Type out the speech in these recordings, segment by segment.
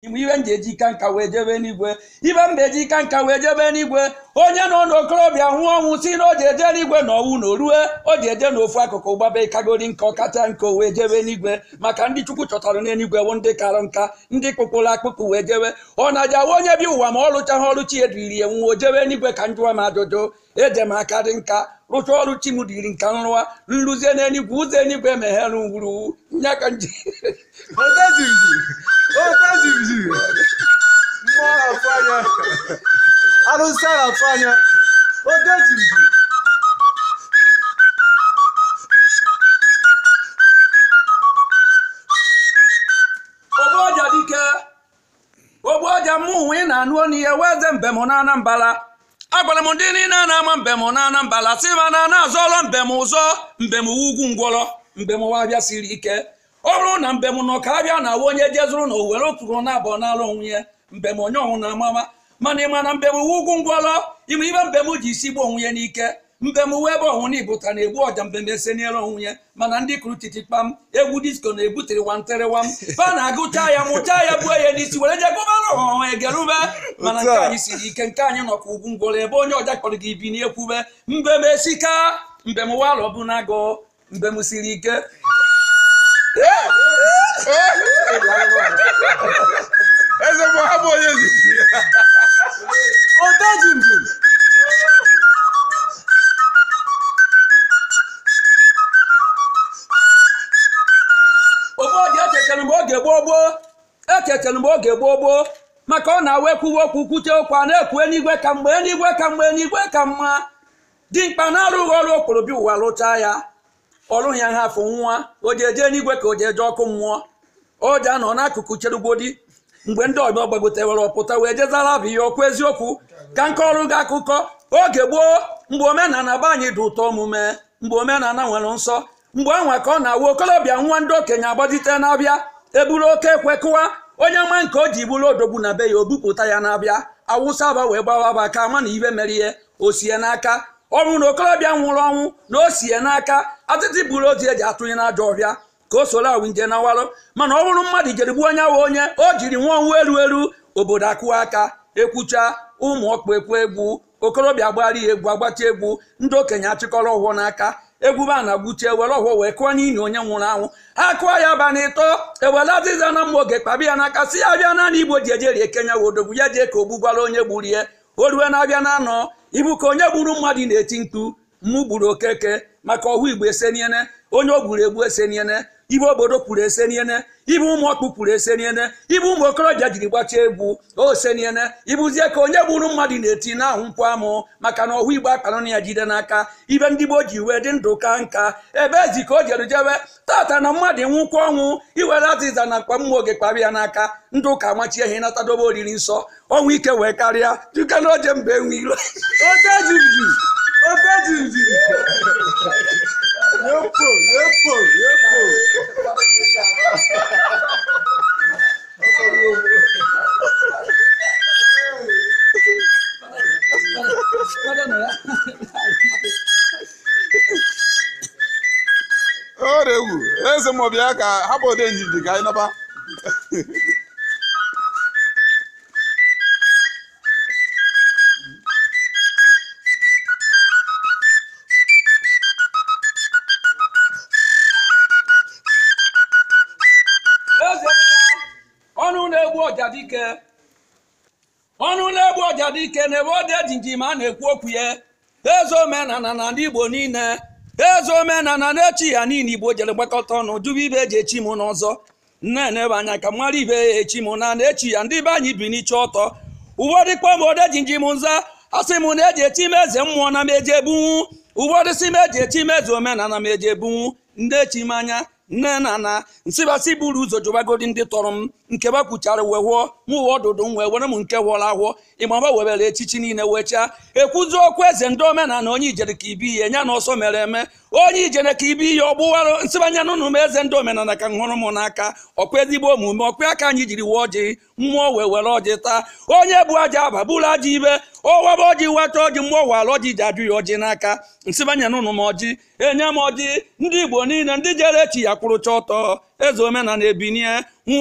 Ibe m ji eji ka nka wee jebe n'igwe ibe m ga-eji ka nka wee jebe n'igwe onye nọ n'okorobịa nwụọ ọnwụ si na o ji eje n'igwe na ọnwụ na orue o ji eje n'ofu akụkụ gbaba ịkagori nka ọ kacha nka o wee jebe n'igwe maka ndị chukwu chọtara n'eluigwe bụ ndị kara nka ndị kpụkpụrụ akpụkpụ wee jebe ọ na-aja wa onye bi ụwa ma ọ rụchaghị ọrụ chi eduriri ya nwụọ o jebe n'igwe ka njụwa m ajụjụ eje m aka dị nka rụcha ọrụ chi m dịrị nka nrụwa nrụzie n'eluigwe ụzọ eluigwe emeghere ngwuru nya ka nji Ota jibiji. Ota jibiji. Mmụọ na-atụ anya. Arụsị a na-atụ anya. Ota jibiji. ogbu ọja dike ogbu ọja mụwa ị na-anụ ọnụ ya wụ eze mbem na anambala agwara m ndị niile a na-ama mbem na anambala si ma na na-azọrọ mbem ụzọ mbem wụ ugwu ngwọrọ mbem wụ abịa siri ike ọ bụrụ na mbem nọ ka abịa na awa onye jezuru na owere okpuru na abụọ n'ala onwe ya mbem onye ọnwụ na amama mana ịma na mbem wụ ugwu ngwọrọ ịma ibe mbem ji isi gbuo onwe ya n'ike mbem wụ ebe ọhụrụ na ibụta na-egbu ọja mbem eseniere onwe ya mana ndị kụrụ titi kpam egwu disko na-ebutere wanterewam fa na-agụcha ya mụcha ya gbuo ya n'isi were je gụbara ọhụrụ egerube mana nke anyị siri ike nke anyị nọ ka ugwu ngwọrọ ebe onye ọja kpọrọ gị ibi n'ekwube mbem esika mbem wụ alọ bụ na-agụ mbem siri ike eze bụ ha bụ onye nzuzu odeji mbem obodo echetere m mgbe oge gboo gboo echetere m mgbe oge gboo gboo maka ọ na-awa ekwuwe okwu kwute okwu a na-ekwu enigwe ka mma enigwe ka mma enigwe ka mma dimkpa na-arụghị ọrụ o kporo bịa ụwa rụchaa ya ọrụ ya ha afọ nwa o ji eje n'igwe ka o ji eje ọkụ mmụọ o ji anọ n'akụkụ cherugbodi mgbe ndị ọgbọ gbagotewere ọpụta wee jezara bụ ihe okwu eziokwu ka m kọọrọ gị akụkọ oge gboo mgbe omenala be anyị dị ụtọ omume mgbe omenala nwere nsọ mgbe anwa ka ọ na-awụ okolobịa nwụọ ndị okenye agbajite n'abịa eburu oke ekwe kụwa onye nwe nke o ji bụrụ odogwu na be ya o bupụta ya n'abịa awụsa aba wee gbawa aba ka ama na ibe mere ya o si ya n'aka ọ bụrụ na okorobịa nwụrụ ọnwụ na o si ya n'aka atịtị buru ozu eji atụnye n'ajọ ọhịa ka o soro awụ nje nawarụ mana ọ bụrụ mmadụ jere gbuo onye ahụ onye o jiri nwụọ ọnwụ eru eru obodo akụwa aka ekwucha ụmụ ọkpụ ekwe egwu okorobịa gbara ya egwu agbacha egwu ndị okenye achịkọrọ ọfọ n'aka egwube ana gwuche ewere ọfọ wee kụọ n'ili onye nwụrụ anwụ ha kụọ ya ba na ịtọ ewere azịza na mma oge kpabi ya n'aka si ya bịa naanị igbo ji eje rie ke nya wụ odogwu ya jee ka o gbugwara onye gburu ya o rue na-abịa na anọ ibu ka onye gburu mmadụ na-eti mkpu mụ gburu okeke maka ohu ibe eseniene onye o gburu egbu eseniene ibe obodo kwuru eseniene ibe ụmụ ọkpụ kwuru eseniene ibe ụmụ okorobịa jiri gbachaa egwu oseniene ibuzie ka onye gburu mmadụ na-eti na ahụ mkpu amụ maka na ohu ibe akpanụ na ya jide n'aka ibe ndị gboo ji wee dị ndụ ka nka ebe ezi ka o jere jebe tata na mmadụ nwụkwa ọnwụ e were azịza na mkpa mma oge kpara ya n'aka ndị ụka machie ihe nata dobe oriri nsọ ọnwụ ike wee karịa dịka na oje mba enwe iro odenjinji odenjinji yepo yepo yepo oregwu eze m bịa ka hapụ odenjinji ka anyị naba eze mmụọ ọnụ na-egbu ọja dike ọnụ na-egbu ọja dike n'ebe odenjinji ma a na-ekwu okwu ya eze omenala na ndị igbo niile eze omenala na-echi ya niile igbo jere gbakọta ọnụ jụba ibe eji echi m n'ọzọ na-enebe anya ka mara ibe ya echi m na na-echi ya ndị be anyị bi n'iche ọtọ ụfọdụ kpọọ m odenjinji m nza a sị m na eji echi m eze mmụọ na m eji ebunwu ụfọdụ sị m eji echi m eze omenala m eji ebunwu ndị echi m anya nene na m sị ba sị buru ụzọ jụbagodi ndị tọrọ m nke ba kwuchara wee hụọ m uwe ọdụdụ m wee were m nke hụọla ahụọ ịmaba webere echichi niile wee chaa ekwuzi okwu eze ndị omenala onye ijere ka ibi ihe nya na ọsọ mere eme onye ijere ka ibi ihe ọ gbụwara m sị ba nyenụnụ m eze ndị omenala ka m hụrụ m n'aka ọkwa ezigbo omume ọkwa aka anyị jiri wee ọjị mmụọ wee were ọjị taa onye bụ aja aba bụrụ aja ibe ọ waba ọjị weta ọjị mmụọ wara ọjị ji ajụ ya ọjị n'aka m sị ba nyenụnụ m ọjị e nye m ọjị ndị igbo niile ndị jere echi ya kwụrụcha ọtọ eze omenala ebinie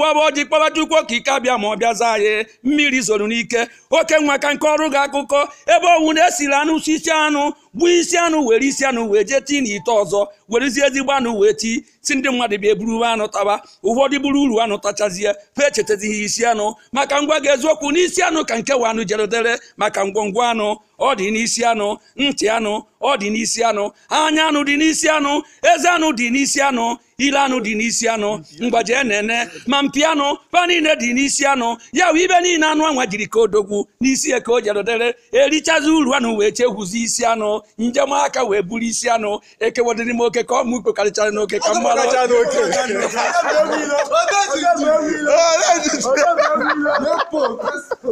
waba ọjị kpọba chukwu okike abịama ọ bịa zaa anyị mmiri zoro n'ike oke nwa ka nke ọrụ ga akụkọ ebe ọnwụ na-esiri anụ si isi anụ gbuo isi anụ were isi anụ wee jee tii n'ite ọzọ werezie ezigbo anụ wee tii sị ndị mmadụ bịa e buru uru anụ taba ụfọdụ buru uru anụ tachazie fa echetazighị isi anụ maka m gwa gị eziokwu n'isi anụ ka nkewa anụ jerodere maka ngwongwo anụ ọ dị n'isi anụ ntị anụ ọ dị n'isi anụ anya anụ dị n'isi anụ eze anụ dị n'isi anụ ile anụ dị n'isi anụ mgbaji enene ma mpi anụ fa niile dị n'isi anụ ya wụ ibe niile anụ anwa jiri ka odogwu n'isi ya ka o jerodere erichazi uru anụ wee chegwuzi isi anụ njem aka wee buru isi anụ ekewadị n'ime oke ka ọ mụ kpekarịchara n'oke ka mma Kacha n'oke. Nepo, Nepo.